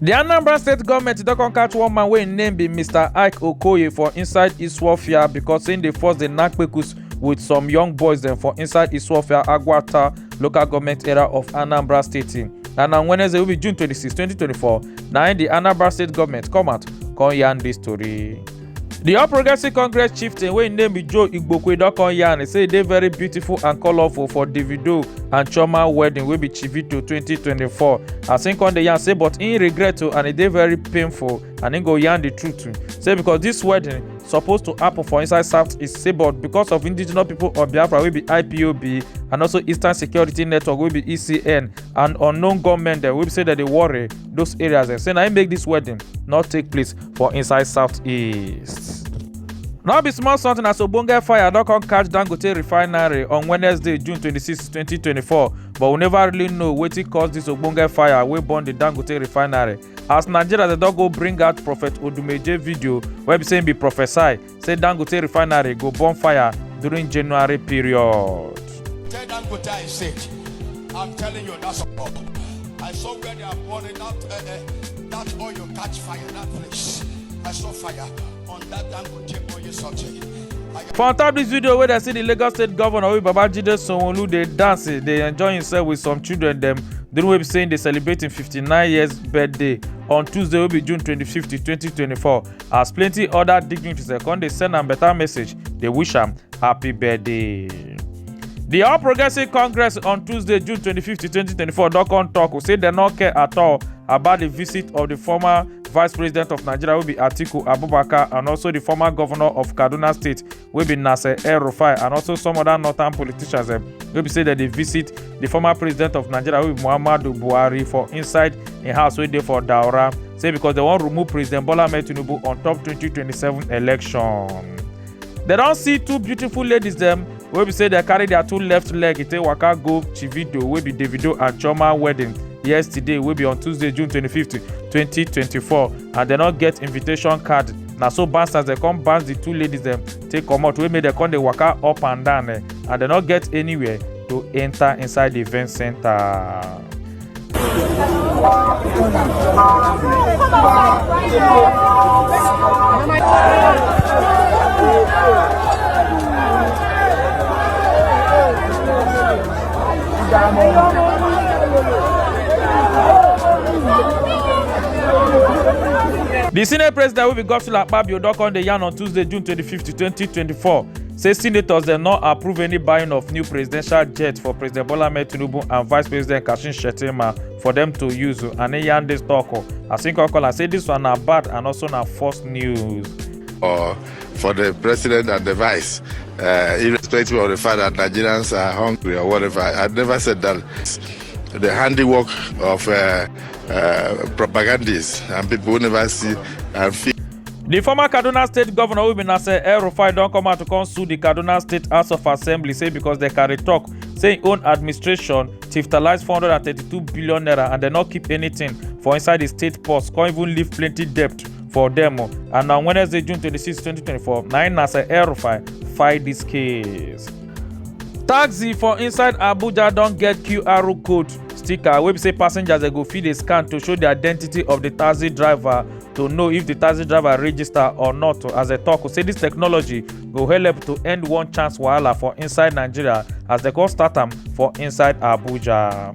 di anambra state goment don come catch one man wey im name be mr ike okoye for inside iswafia becos im dey force dey knack kpekus wit some young boys dem for inside iswafia agwata local goment area of anambra state and on wednesday wey be june 26 2024 na im di anambra state goment come out come yarn dis tori. di all progressives congress chieftain wey im name be joe igbokwe don come yarn say e dey very beautiful and colourful for davido and chioma wedding wey be chivito 2024 as im come dey yarn say but im regret o and e dey very painful and im go yarn di truth too say because dis wedding suppose to happen for inside south east say but because of indigenous people of biafra wey be ipob and also eastern security network wey be ecn and unknown gunmen dem wey be say dem dey worry those areas dem say na im make dis wedding not take place for inside southeast. no be small something as ogbonge fire don come catch dangote refinery on wednesday june 26 2024 but we never really know wetin cause dis ogbonge fire wey burn di dangote refinery as nigeria dey don go bring out prophet odumeje video wey be say im be prophesy say Dangote refinery go burn fire during January period. Tell Dangote I said, I'm telling you that's all. I saw where they are burning that, uh, uh, that oil catch fire, that place. I saw fire on that Dangote oil something. For on top this video where they see the Lagos State Governor Obi Babajide Sanwo-Olu dey dance, dey enjoy himself with some children dem during wey be saying dey celebrate im 59 years birthday on Tuesday wey be June 25, 2024. as plenty other dignitaries dem come dey send am better message dey wish am happy birthday. The All Progressive Congress on Tuesday, June 25, 2024, don come talk say dem no care at all about the visit of the former Vice President of Nigeria, wey be Atiku Abubakar, and also the former governor of Kaduna State, wey be nasser el rufai and also some other northern politicians dem wey be say dem dey visit di former president of nigeria wey be muhammadu buhari for inside im house wey dey for daura say because dem wan remove president bola ahmed tinubu on top 2027 election dem don see two beautiful ladies dem wey be say dem carry their two left leg e take waka go chivido wey be davido and chioma wedding yesterday wey be on tuesday june 25th 2024 and dem no get invitation card na so bouncers dem come bounce the two ladies dem take comot wey make dem come dey waka up and down eh, and dem no get anywhere to enter inside the event center. di senate president wey be godswill akpabio don come dey yarn on tuesday june 25 2024 say senators dem no approve any buying of new presidential jet for president bola ahmed tinubu and vice president kashim shettima for dem to use and he yarn dis tok as im come call am say dis one na bad and also na false news. or for the president and the vice, uh, irrespective of the fact that Nigerians are hungry or whatever. I never said that. The handiwork of uh, uh, propagandists and people who never see and feel. The former Kaduna State Governor Ubinase El Rufai don come out to come sue the Kaduna State House of Assembly say because they carry talk say im own administration tiftalize 432 billion naira and dem no keep anything for inside di state purse come even leave plenty debt for dem oh. and on wednesday june 26 2024 na im nasser el-rufai fight dis case. taxi for inside abuja don get qr code sticker wey be say passengers dem go fit dey scan to show di identity of di taxi driver to know if di taxi driver register or not as dem tok say dis technology go help to end one chance wahala for inside nigeria as dem come start am for inside abuja.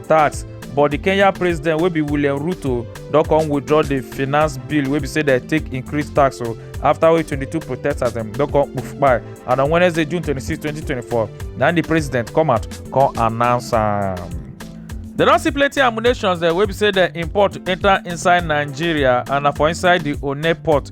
tax but di kenya president wey be william ruto don come withdraw di finance bill wey be say dem take increase tax o afta wey 22 protesters dem don come poof kpai and on wednesday june 26 2024 na di president come out come announce am. dem don see plenty ammunitions dem wey be say dem import enta inside nigeria and na for inside di one port